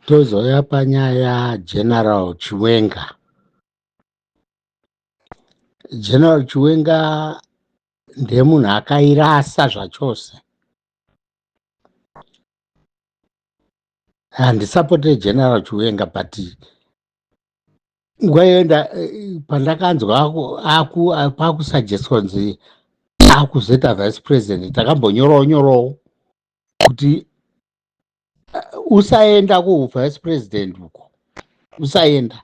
Tozouya panyaya yaGeneral Chiwenga. General Chiwenga ndemunhu akairasa zvachose. Handisapote General Chiwenga but nguva yoenda pandakanzwa kwakusuggestwa nzi akuzoita vice president takambonyorawo nyorawo kuti uh, usaenda kuvice president uko usaenda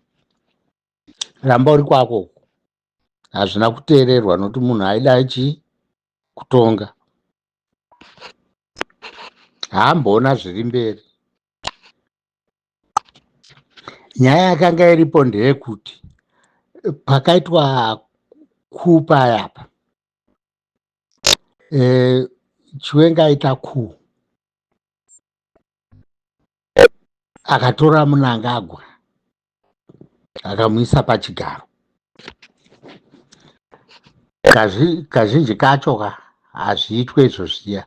ramba uri kwako uko hazvina kuteererwa nokuti munhu aida chii kutonga haamboona zviri mberi nyaya yakanga iripo ndeyekuti pakaitwa kupa yapa e, chiwenga aita ku akatora munangagwa akamuisa pachigaro kazhinji kacho ka hazviitwe izvo zviya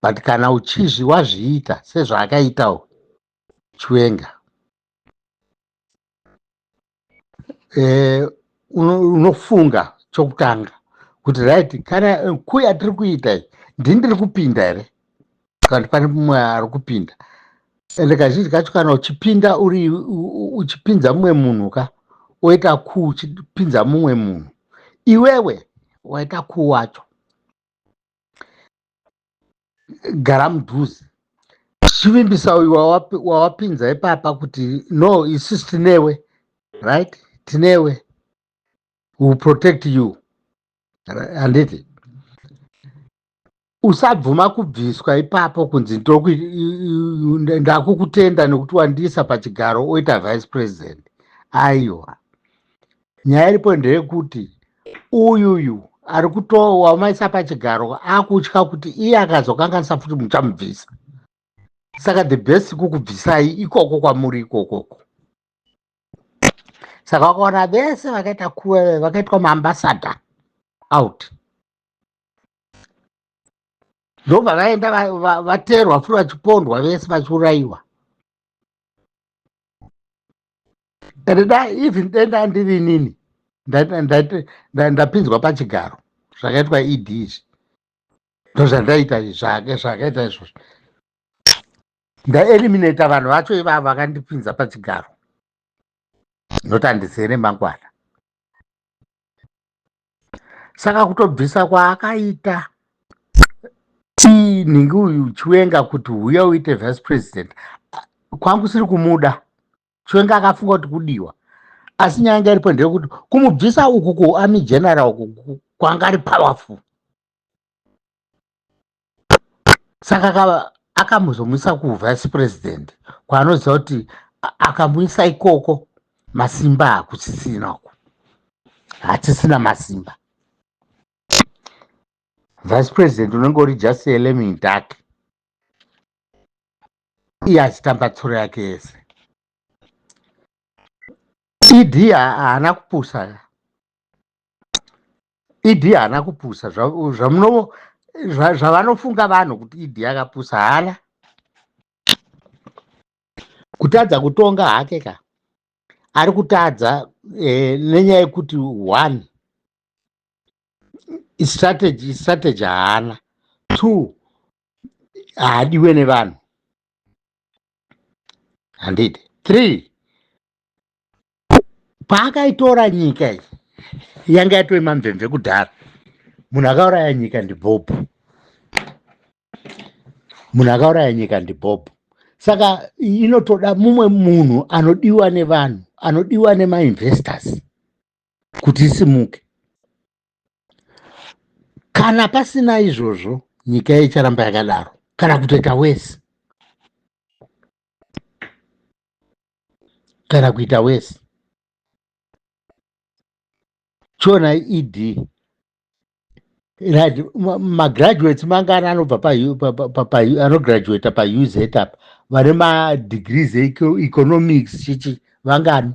but kana uchizvi wazviita sezvaakaitawo chiwenga eh, unofunga uno chokutanga kuti right kana eh, kuya tiri kuita iyi ndini ndiri kupinda here kana kuti pane mumwe ari kupinda ende kazhinji kacho kana uchipinda uri uchipinza mumwe munhu ka oita ku uchipinza mumwe munhu iwewe waita ku wacho gara mudhuze chivimbisa uyu wawapinza ipapa kuti no isis tinewe right tinewe will protect you handiti usabvuma kubviswa ipapo kunzi ndakukutenda nekuti wandiisa pachigaro oita vice president aiwa nyaya iripo ndeyekuti uyuyu ari kutowamaisa pachigaro akutya kuti iye akazokanganisa futi muchamubvisa saka the best kukubvisai ikoko kwamuri ikokoko saka wakaona vese vakaita kuve vakaitwa maambasada out ndobva vaenda vateerwa furi vachipondwa vese vachiurayiwa and da even dai ndandiri inini ndapinzwa pachigaro zvakaitwa ed izvi ndozvandaita zvake zvakaita izvozvo ndaeliminata vanhu vacho ivavo vakandipinza pachigaro noti handisere mangwana saka kutobvisa kwaakaita nhingi uyu chiwenga kuti huya uite vice president kwangu siri kumuda chiwenga akafunga kuti kudiwa asi nyaya yanga iripo ndeyekuti kumubvisa uku kuarmy general uku kwanga ari powerful saka akamuzomwisa kuvice president kwaanoziva kuti akamwisa ikoko masimba hakusisina uku hatisina masimba vice president unenge uri just elemidak iye achitamba tsoro yake yese ed haana kupusa ed haana kupusa zvamunovo zvavanofunga vanhu kuti ed akapusa haana kutadza kutonga hake ka ari kutadza eh, nenyaya yekuti one strategy strategy haana two haadiwe nevanhu handiti three paakaitora nyika iyi yanga yatove mamvemve kudhara munhu akauraya nyika ndibhobho munhu akauraya nyika ndibhobho saka inotoda mumwe munhu anodiwa nevanhu anodiwa nemainvestors kuti isimuke kana pasina izvozvo nyika icharamba yakadaro kana kutoita wese kana kuita wese chiona ed right magraduates mangani anobva anograduata pauz apa vane madegrees eeconomics chichi vangani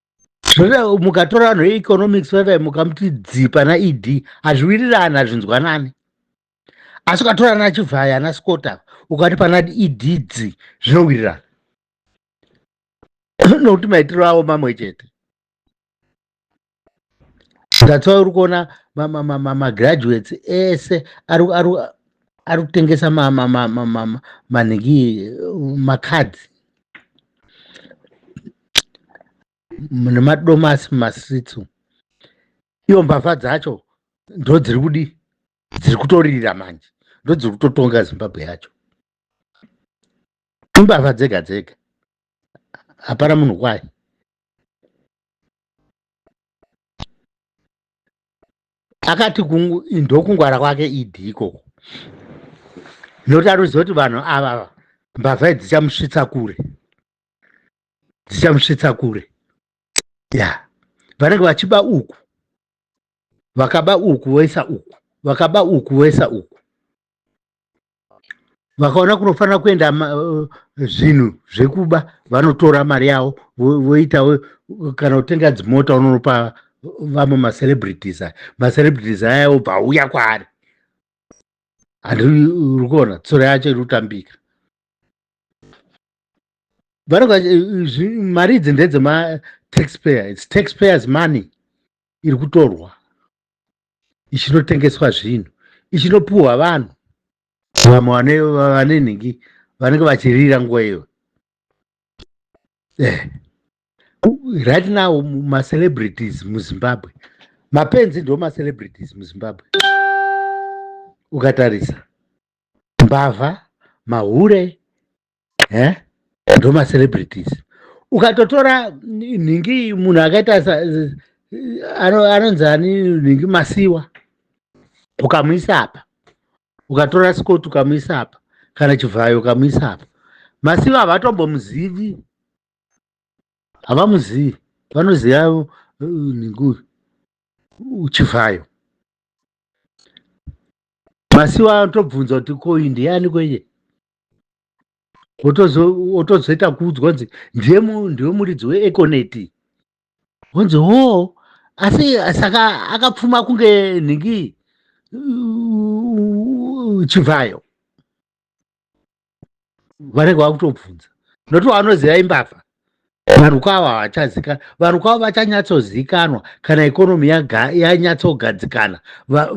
mukatora vanhu veeconomics vavai mukamuti dzi pana ed hazviwirirani hazvinzwanani asi ukatora ana chivhaya ana scota ukati pana ed dzi zvinowirirana nokuti maitiro avo mamwe chete that's why uri kuona magraduates ese ari kutengesa manhiki macards nemadomasi mumastreets umu iyo mbavha dzacho ndo dziri kudi dziri kutoririra manje ndo dziri kutotonga zimbabwe yacho imbavha dzega dzega hapana munhu kwaye akati ndokungwara kwake idi ikoko nokuti ari kuziva kuti vanhu ava mbavha idzi dzichamusvitsa kure dzichamusvitsa kure ya vanenge vachiba uku vakaba uku voisa uku vakaba uku voisa uku vakaona kunofanira kuenda uh, zvinhu zvekuba vanotora mari yavo voitawo kana kutenga dzimota unonopa vamwe macelebrities aya macelebrities aya obva auya kwaari handi uri kuona tsoro yacho iri kutambika vanoga eh, mari idzi ndedzemataxpayer its taxpayers money iri kutorwa ichinotengeswa zvinhu ichinopiwa vanhu vamwe vane nhingi vanenge vachirira nguva iyo eh. right now macelebrities muzimbabwe mapenzi ndo macelebrities muzimbabwe ukatarisa mbavha mahure eh? ndoma celebrities ukatotora nhingi munhu akaita anonzi ani nhingi masiwa ukamuisa apa ukatora scott ukamuisa apa kana chivhayo ukamuisa apa masiwa havatombomuzivi havamuzivi vanoziva uh, nhingi uh, chivhayo masiwa anotobvunza kuti koindi yani kwenye otozoita kuudzwa kunzi ndiye ndiwe muridzi weeconet wonzi ho asi saka akapfuma kunge nhingi chivhayo vanenge vakutobvunza noto vanoziva imbavha varukwa ava havachazikanwa varukwa ava vachanyatsozikanwa kana ikonomi yanyatsogadzikana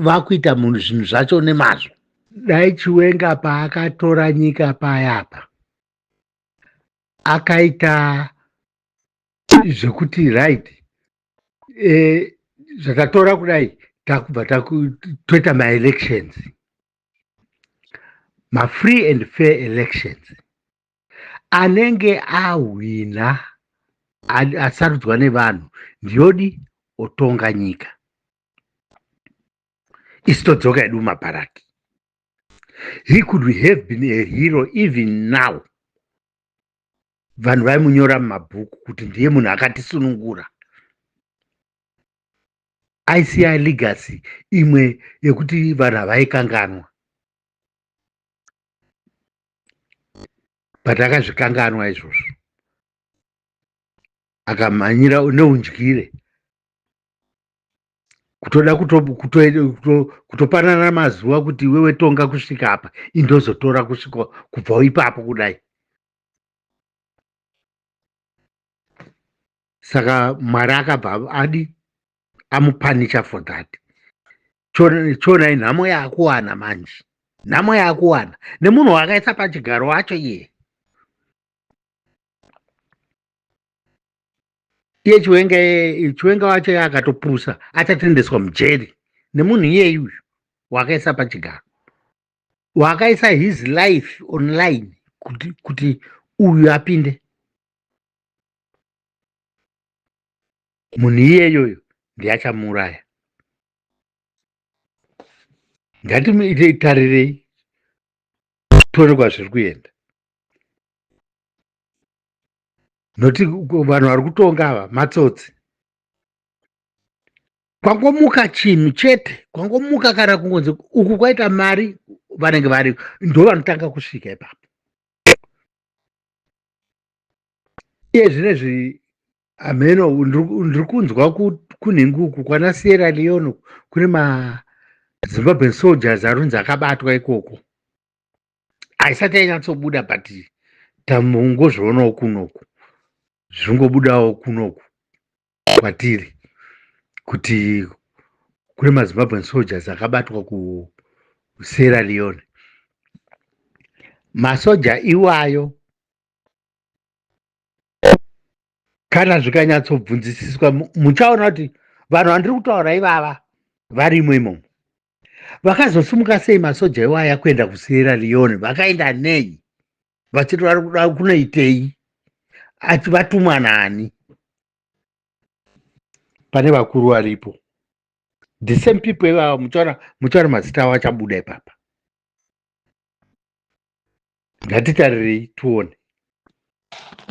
vakuita munhu zvinhu zvacho nemazvo dai chiwenga paakatora nyika payapa akaita zvekuti right e, zvatatora kudai takubva toita maelections mafree and fair elections anenge ahwina asarudzwa nevanhu ndiyodi otonga nyika isi todzoka yedu mumabharaki he could have been a hero even now vanhu vaimunyora mumabhuku kuti ndiye munhu akatisunungura aisiya legacy imwe yekuti vanhu havaikanganwa but akazvikanganwa izvozvo akamhanyira neundyire kutoda kutopanana mazuva kuti iwewe tonga kusvika apa indozotora kusvika kubva ipapo kudai saka mwari akabva adi amupanicha for that chona inhamo yakuwana manje nhamo yakuwana nemunhu wakaisa pachigaro wacho iye iye chiwenga chiwenga wacho iye akatopusa achatendeswa mujeri nemunhu iyeyi uyu wakaisa pachigaro wakaisa his life online kuti, kuti uyu apinde munhu iyeyoyo ndiye achamuuraya ngatimitarirei tione kwazviri kuenda noti vanhu vari kutonga ava matsotsi kwangomuka chinhu chete kwangomuka kana kungonzi uku kwaita mari vanenge vari ndo vanotanga kusvika ipapo iye zvinezvi Ameno ndiri kunzwa kunhingi uku kwana Sierra Leone kune maZimbabwean soldiers arunzi akabatwa ikoko. Haisati yanyatsobuda but tamungozvionawo kunoku zvingobudawo kunoku kwatiri kuti kune maZimbabwean soldiers akabatwa kuSierra Leone. Masoja iwayo kana zvikanyatsobvunzisiswa muchaona kuti vanhu vandiri kutaura ivava varimo imomo vakazosimuka sei masoja iwaya kuenda kusierra leone vakaenda nei vachiti vari kuda kunoitei ati vatumwa nani pane vakuru varipo the same people ivava muchaona muchaona mazita avo achabuda ipapa ngatitarirei tione